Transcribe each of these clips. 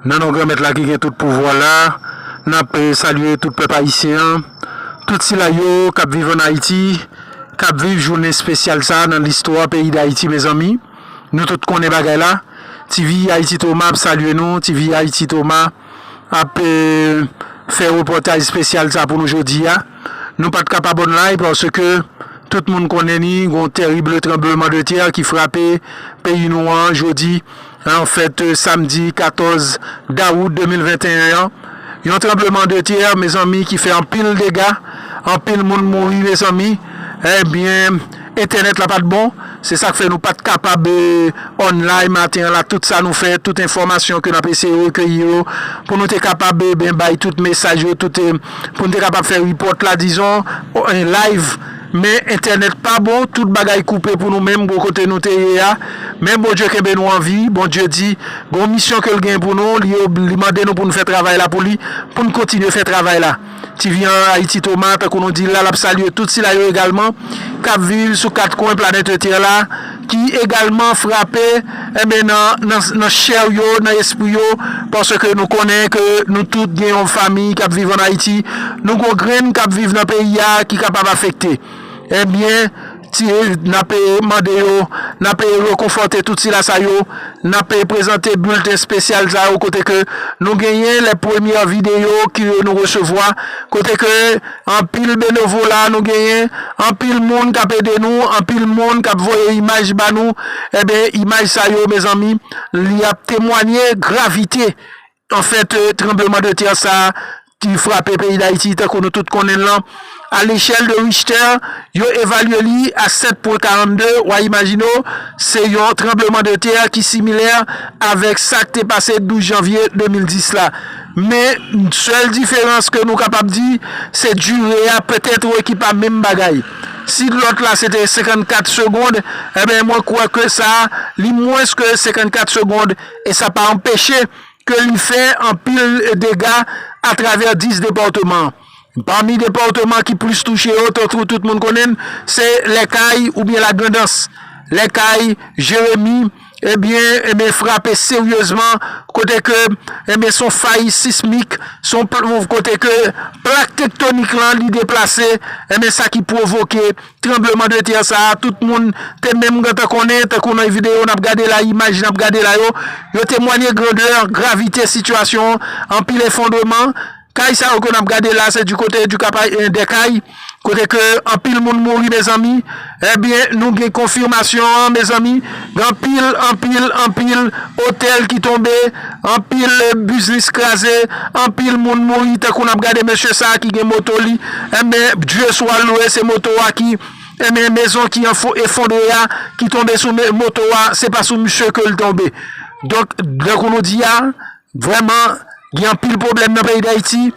Nan non Granmèt la ki gen tout pouvwa la, n ap salye tout pèp ayisyen an, tout sila yo k ap viv ann Ayiti, k ap viv jounen espesyal sa a nan listwa peyi Dayiti. Mezanmi, nou tout konnen bagay la. Ti Vivi Ayiti Toma ap salye nou. Ti Vivi Ayiti Toma. ap fè repòtaj spesyal sa pou nou jodi a. Nou pat ka pa bon lay paske tout moun konnen ni gon terrible trembleman de terre ki frape peyi nou an jodi an fèt samdi 14 dawout 2021 an. Yon trembleman de terre mezanmi ki fè anpil dega, anpil moun mouri mezanmi. Ebyen. Entènèt la pat bon, se sak fè nou pat kapab online maten an la tout sa nou fè, tout enfòmasyon ke nap eseye rekeyi yo pou nou te kapab ben bay tout mesaj yo tout pou nou te kapab fè report la dizon en live men entènèt pa bon tout bagay koupe pou nou menm gwo kote nou te ye a men Bondye kenbe nou anvi Bondye di gon misyon kel gen pou nou li mande nou pou nou fè travay la pou li pou nou kontinye fè travay la. Ti Vyan an Ayiti Toma, tankou nou di l la, l ap salye tout sila yo egalman k ap viv sou kat kwen planèt Ltè la ki egalman frape enben nan nan chè yo, nan espri yo paske nou konnen ke nou tout gen yon fami k ap viv ann Ayiti, nou gon grenn k ap viv nan peyi a ki kapab afekte enben. Ti, N ap mande yo, n ap rekonfòte tout sila sa yo, n ap prezante bilten spesyal sa yo kote ke nou genyen lè premyè videyo ke nou resevwa, kote ke anpil benevola nou genyen, anpil moun k ap ede nou, anpil moun k ap voye imaj ba nou, enben imaj sa yo mezanmi li ap temwanye gravite Anfèt, tranbleman de tè sa a ki frape peyi Dayiti tankou nou tout konnen l lan, a lechèl de Richtè, yo evalye li a 7 pwen 42, wa imajine w, se yon tranbleman de tè ki similè avèk sa k te pase 12 janvye 2010 la. Men, sèl diferans ke nou kapab di, se dire a petèt ki pa menm bagay. Si lòt la se te 54 segond, enben mwen kwè ke sa a, li mwens ke 54 segond. E sa pa anpeche ke li fè anpil dega atravè 10 depatman. Pami depatman ki plis touche yo, tankou nou tout moun konnen l, se Lè Kay oubyen La Grandans. Lè Kay, Jeremi, ebyen, ebyen frape seryezman kote ke, ebyen, son fay sismik, son kote ke plak tektonik lan li deplase, ebyen sa ki pwovoke. Tranbleman de tè sa a, tout moun te menm gentan konnen, tankou nan videyo n ap gade la, imaj n ap gade la yo, yo temwanye grandè, gravite sitiyasyon an, anpil efondreman. Kay sa yo ke n ap gade la, se di kote di ka pa en de kay, kote ke anpil moun mouri mezanmi, ebyen nou gen konfimasyon an mezanmi. Anpil, anpil, anpil otèl ki tonbe, anpil biznis kraze, anpil moun mouri tankou nap gade mesye sa ki gen moto li enben Bdye swa lwe se moto a ki enben mezon ki efondre a ki tonbe sou moto a se pa sou misye kel tonbe donk dankou nou di a Vrèman gen anpil pwoblèm nan peyi Dayiti,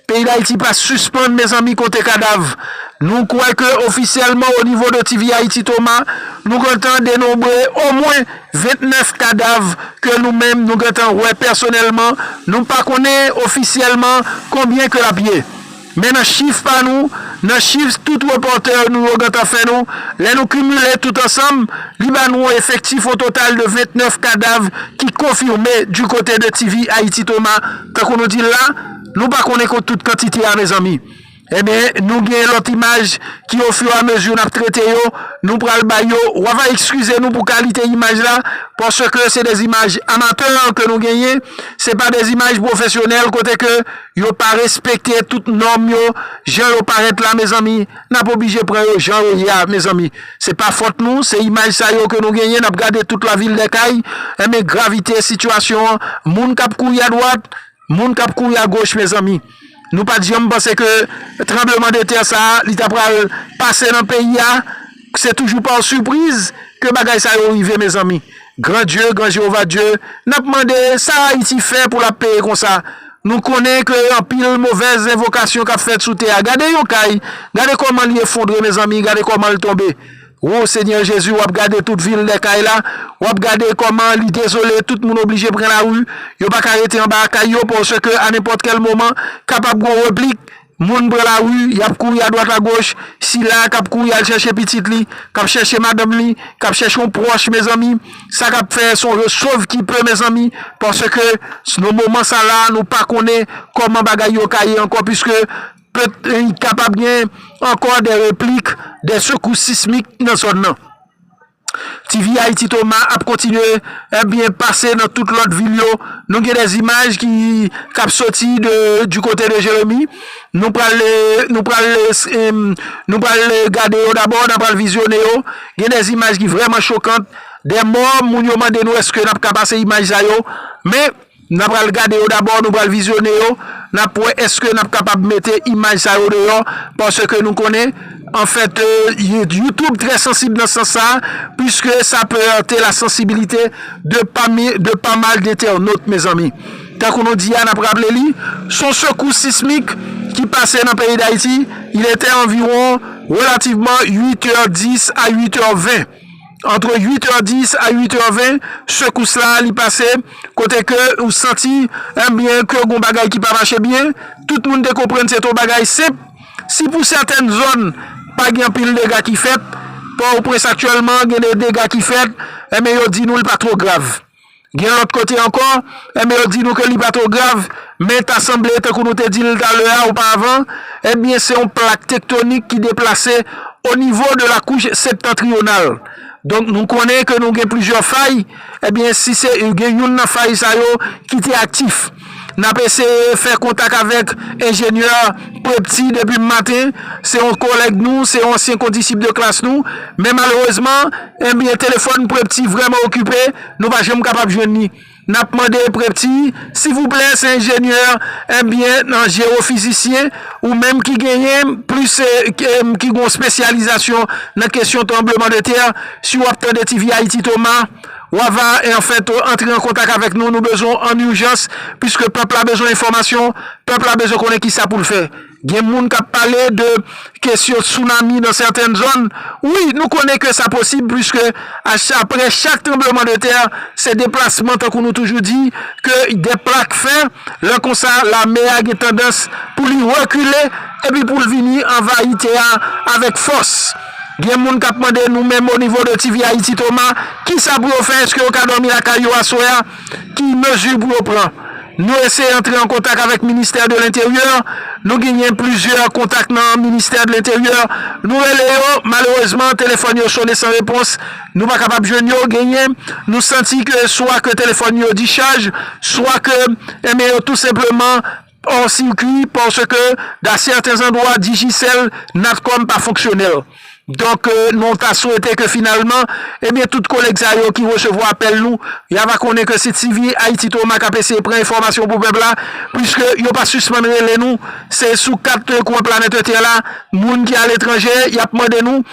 peyi Dayiti pa sispann mezanmi konte kadav. Nou kwè ke ofisyèlman o nivo de TV Haïti Toma nou gentan denonbre o mwen 29 kadav ke nou menm nou gentan wè pèsonèlman, nou pa konnen ofisyèlman konbyen ke lap ye. Men nan chif pa nou, nan chif tout repòtè nou yo gentan fè nou, lè nou kimile tout ansanm, li ba nou yon efektif yon total de 29 kadav ki konfime di kote de TV Haïti Thomas, tankou nou di l la, nou pa konnen kont tout kantite a mezanmi. Enben, nou gen lòt imaj ki ofiramezi n ap trete yo, nou pral bay yo, w ava ekskize nou pou kalite imaj la, paske se de imaj amatè ke nou genyen, se pa de imaj pwofesyonèl kote ke. Yo pa respekte tout nòm yo jan yo parèt la mezanmi, nap oblije pran yo jan yo ye a mezanmi, se pa fòt nou, se imaj sa yo ke nou genyen nap gade tout lavil dè kay, enben gravite sitiyasyon an, moun kap kouri a dwat, moun kap kouri a goch mezanmi, nou pat janm panse ke tranbleman de tè sa li ta pral pase nan peyi a. Se toujou par surprise ke bagay sa yo rive mezanmi. Gran Dye, Gran Jewova Dye, n ap mande sa Ayiti fè pou l ap peye konsa. Nou konnen ke anpil movèz envokasyon k ap fèt sou tè a. Gade yon kay, gade kòman li efondre mezanmi, gade kòman l tonbe. Wo Senyè Jezi, w ap gade tout vil dè kay la, w ap gade kòman li dezole, tout moun oblije pran lari, yo pa ka rete anba kay yo paske anenpòt kèl moman kapab gon replik. Moun pran lari, y ap kouri adwat agoch, sila a k ap kouri al chèche pitit li, k ap chèche madanm li, k ap chèche yon pwòch mezanmi, sa k ap fè se yon je sov ki pe mezanmi, paske nan moman sa la a nou pa konnen kòman bagay yo ka ye ankò piske pe kapab gen ankò de replik de sekous sismik nan zòn nan. TV Haïti Thomas ap kontinye ebyen pase nan tout lòt vil yo nou gen des images ki kap soti de du côté de Jérémie nou pral nou pral nou pral gade yo dabò nan pral vizyone yo gen des images ki vrèman chokant des morts moun yo mande nou eske nap ka pase imaj sa yo men. N ap pral gade yo dabò, nou pral vizyone yo, n ap wè èske n ap kapab mete imaj sa yo deyò paske nou konnen anfèt YouTube trè sansib nan sans sa puiske sa pe erte la sansibilite de pa mal dentènot mezanmi. Tankou nou di a n ap raple li s on sekous sismik ki pase nan peyi Dayiti, il etè anviwon relativman 8 è 10 a 8 è 20. Antre 8 è 10 a 8 è 20 sekous la li pase kote ke ou santi enbyen ke gon bagay ki pa mache byen, tout moun te konprann se ton bagay senp, si pou sètèn zòn pa gen anpil dega ki fèt, pòtoprens aktyèlman gen de dega ki fèt, enbyen yo di nou li pa two grav. Gen lòt kote ankò, enben yo di nou ke li pa two grav, men ta sanble tankou nou te di l talè a oupavan, enben se yon plak tektonik ki deplase o nivo de la kouch septantriyonal. Donk nou konnen ke nou gen plizyè fay, enben si se gen youn nan fay sa yo ki te aktif. N ap eseye fè kontak avèk enjenyè Prepti depi maten, se yon kolèg nou, se yon ansyen kondisip de klas nou, men malerezman, enben, telefòn Prepti vrèman okipe, nou pa janm kapab jwenn li. N ap mande Prepti, sivouplè, se enjenyè, enben, nan jewofizisyen, ou menm ki genyen plis, ki gen yon espesyalizasyon nan kesyon tranbleman de tè, si w ap tande TV Ayiti Toma. Wa va en fèt antre an kontak avèk nou, nou bezwen w an urjans, puiske pèp la bezwen enfòmasyon, pèp la bezwen konnen kisa pou l fè. Gen moun k ap pale de kesyon tsunami nan sèten zòn, wi nou konnen ke sa posib puiske aprè chak tranbleman de tè se deplasman tankou nou toujou di ke de plak fè, lè konsa lame a gen tandans pou li rekile epi pou l vini anvayi tè a avèk fòs. Gen moun kap mande nou menm o nivo de TV Haiti Thomas kisa pou yo fè eske yo ka dòmi lakay yo aswè a ki mezi pou yo pran nou eseye antre an kontak avèk ministè de lenteryè nou ginyen plizyè kontak nan ministè de lenteryè nou rele yo malerezman telefòn yo sone san repons nou pa kapab jwenn yo genyen nou santi ke swa ke telefòn yo dichaj swa ke enben yo tou senpleman Hors circuit parce que dans certains endroits Digicel, Natcom pa fonksyonèl. Donk nou ta swete ke finalman, ebyen tout kolèg sa yo ki resevwa apèl nou, ya va konnen ke se TV Haïti Thomas kap eseye pran enfòmasyon pou pèp la, puiske yo pa sispann rele nou, se sou kat kwen planète tè la, moun ki aletranje yap mande nou,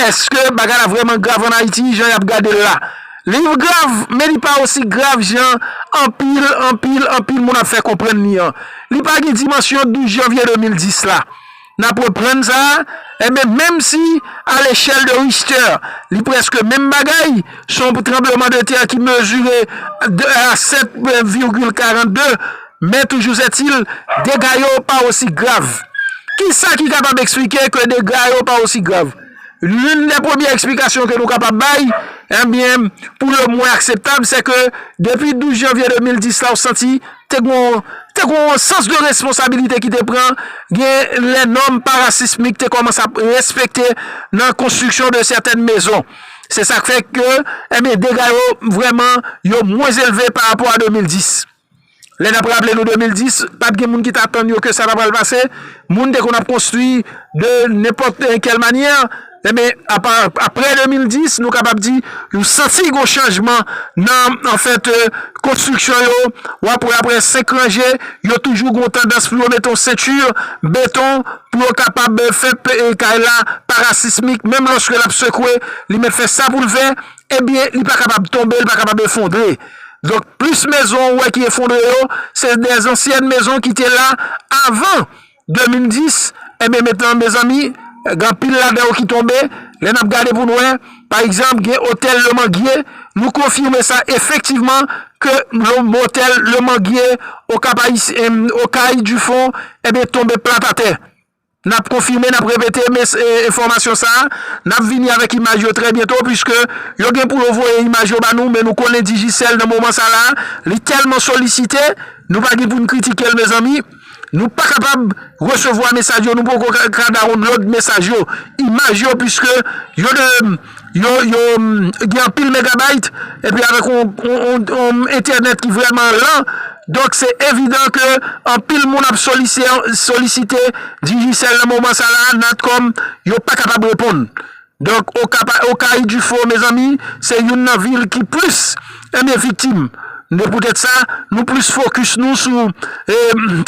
eske bagay la vrèman grav an Ayiti jan yap gadel la? Liv grav, men li pa osi grav jan anpil, anpil, anpil moun ap fè konprann li an. Li pa gen dimansyon 12 janvye 2010 la. N ap reprann sa, enben menm si a lechèl de Richter li prèske menm bagay, s on tranbleman de tè ki mezire a 7 virgil 42, men toujouzetil, dega yo pa osi grav. Kisa ki kapab eksplike ke dega yo pa osi grav? L'une des premières explications que nou kapab bay, ebyen, pou le mwen akseptab, c'est que depi 12 janvier 2010 la ou santi te gon te gon yon sans de responsabilité ki te pran, gen les normes parasismiques te kòmanse ap respekte nan construction de certaines maisons. Se sa k fè ke, ebyen, dega yo vrèman yo mwens elve pa rapò a 2010. Lè n ap raple nou 2010, pa t gen moun ki t atann yo ke sa ta pral pase. Moun te konn ap konstwi de nenpòt kèl manyè. Enben, apre 2010, nou kapab di, nou santi yon chanjman nan, an fèt, konstriksyon yo. W ap wè apre 5 ranje, yo toujou gen yon tandans pou yo mete yon senti beton pou yo kapab fè kay la parasismik. Menm lòske l ap sekwe, li mèt fè sa pou l fè. Ebyen li pa kapab tonbe, li pa kapab efondre. Donk plis mezon ou wè ki efondre yo, se de zansyèn mezon ki te la avan 2010, ebyen metnan mezanmi, gen anpil ladan yo ki tonbe, lè n ap gade pou n wè, pa egzanp gen otèl Le Manguier, nou konfime sa efektivman ke otèl Le Manguier, Okap Ayisyen, Okay du Fond, ebyen tonbe plat atè. N ap konfime, n ap repete mes enfòmasyon sa a. N ap vini avèk imaj yo trè byento puiske yo gen pou yo voye imaj yo ba nou men nou konnen Digicel nan moman sa la a li tèlman solisite nou pa gen pou n kritike l mezanmi nou pa kapab resevwa mesaj yo nou poko ka dawonlod mesaj yo, imaj yo puiske yo de. Yo gen anpil megabyte epi avèk yon entènèt ki vrèman lan, donk se evidan ke anpil moun ap solisite Digicel nan moman sa la, Natcom yo pa kapab reponn. Donk Okay du faux mezanmi se youn nan vil ki plis. Ebyen viktim, de poutèt sa, nou plis fokis nou sou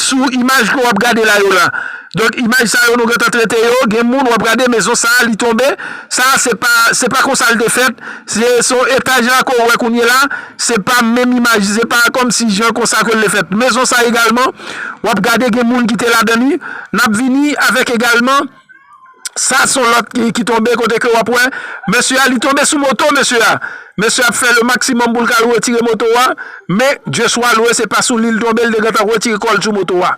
sou imaj ke wap gade la yo la. Donk imaj sa yo nou gentan trete yo, gen moun wap gade mezon sa li tonbe, sa se pa se pa konsa li te fèt, se son etaj la ke w wè kounye la, se pa menm imaj, se pa kòm si jan konsa ke li fèt. Mezon sa egalman wap gade gen moun ki te ladan li, nap vini avèk egalman. Sa son lot ki tonbe kote ke wap wè mesye a li tonbe sou moto mesye a. Mesye ap fè le maksimom pou l ka retire moto a men Dieu soit loue se pa sou li l tonbe l te gentan retire kò l sou moto a.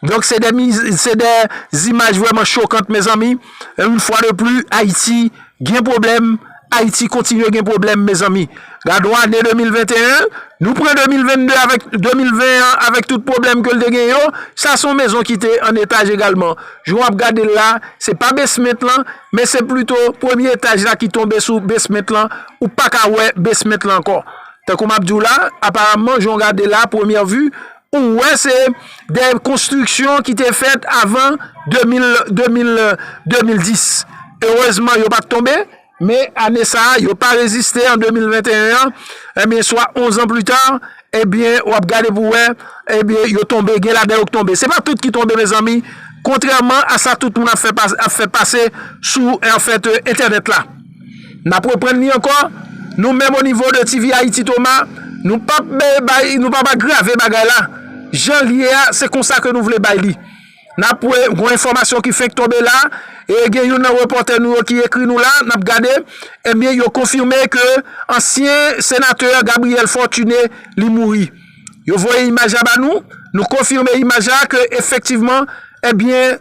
Donk se de se de zimaj vreman chokant mezanmi. Une fois de plus Haïti gen pwoblèm. Ayiti kontinye gen pwoblèm mezanmi. Gadon ane 2021, nou pran 2022 avèk 2020 an avèk tout pwoblèm ke l te gen yo, sa son mezon ki te an etaj egalman. Jan w ap gade l la, se pa besment lan, men se plito premye etaj la ki tonbe sou besment lan, ou pa ka wè besment lan ankò. Tankou m ap di w la, aparamman jan w gade la a premyè vi, Ou wè se de konstriksyon ki te fèt avan 2010. Erezman yo pat tonbe, men ane sa a yo pa reziste an 2021 an, ebyen swa 11 an pli ta, ebyen w ap gade pou wè, ebyen yo tonbe, gen ladan yo ki tonbe. Se pa tout ki tonbe mezanmi, kontrèman a sa tout moun ap fè pase sou entènèt la. N ap reprann li ankò, nou menm onivo de TV Ayiti Toma, nou p ap bay, nou p ap agrave bagay la. Jan l ye a, se konsa ke nou vle bay li. N ap wè, gon enfòmasyon ki fenk tonbe la, e gen youn nan repòtè nou yo ki ekri nou la, n ap gade, ebyen yo konfime ke ansyen senatè Gabriel Fortuné li mouri. Yo voye imaj la ba nou, nou konfime imaj la ke efektivman, ebyen.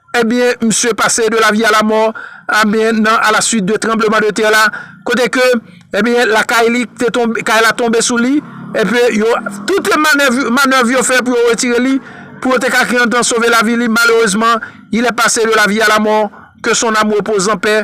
Ebyen misye pase de la vie a la mort ebyen nan a la suite de tremblement de terre la kote ke ebyen lakay li te tonbe kay la tonbe sou li epi yo tout le manèv manèv yo fè pou yo retire li pou yo te ka gen tan sove la vi li malerezman il est pase de la vie a la mort que son ame repose en paix.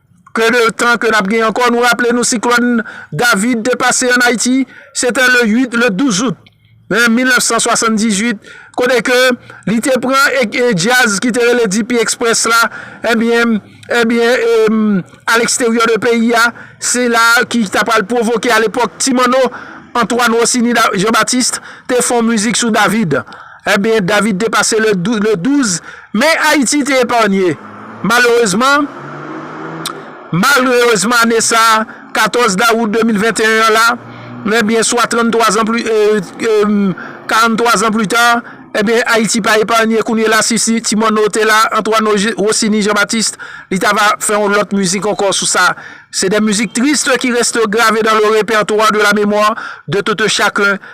Ke de tan ke nap gen ankò, nou raple nou siklòn David te pase an Ayiti, se te le 8, le 12 out 1978, kote ke li te pran djaz ki te rele DP Express la, ebyen, ebyen, a leksteryò de peyi a, se la ki ta pral pwovoke a lepòk Ti Manno, Antoine Rossini Jean Baptiste, te fon mizik sou David. Ebyen, David te pase le 12, men Ayiti te eparnye. Malerezman, malrerezman ane sa a, 14 dawout 2021 an la, ebyen, swa 33 zan pli, emm, 43 zan pli ta, ebyen, Ayiti pa eparnye, kounye la si si Ti Manno te la, Antoine Rossini Jean Baptiste, li ta va fè yon lòt mizik ankò sou sa. Se de mizik triste ki reste grave dans le repertoire de la mémoire de tout un chacun.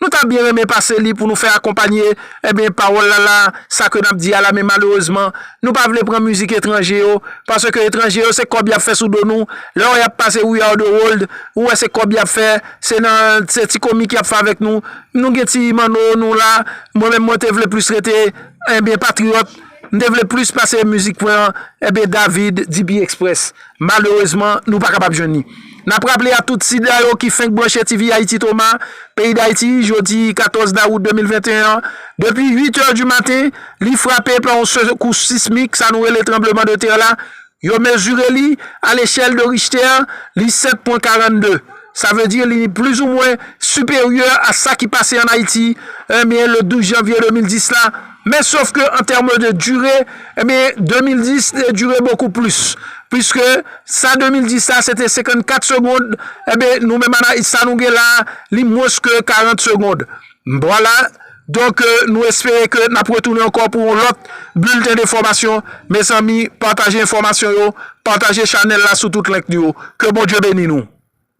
Nou ta byen renmen pase li pou nou fè akonpanye enben pawòl la la sa ke nap di a la men malerezman nou pa vle pran mizik etranje yo paske etranje yo se kòb yap fè sou do nou lè wè yap pase we are the world ou wè se kòb yap fè se nan se ti komik yap fè avèk nou nou gen ti manno nou la mwen menm mwen te vle plis rete enben patriyòt m te vle plis pase mizik mwen enben David DP Express. Malerezman, nou pa kapab jwenn li. N ap raple a tout sida yo ki fenk branche TV Ayiti Toma, peyi Dayiti, jodi 14 dawout 2021 an, depi 8 è di maten, li frape pa yon sekous sismik, sa nou rele tranbleman de tè la, yo mezire li a lechèl de Richter, li 7 pwen 42. Sa vle di li plizoumwen siperyè a sa ki pase an Ayiti, enben le 12 janvye 2010 la, men sof ke an tème de dire, enben 2010 te dire bokou plis, piske sa 2010 la se te 54 segond, enben nou menm an Ayiti sa nou gen la, li mwens ke 40 segond. Vwala, donk nou espere ke n ap retounen ankò pou yon lòt bilten de fòmasyon, mezanmi pataje enfòmasyon yo, pataje chanèl la sou tout link nou yo, ke Bondye beni nou.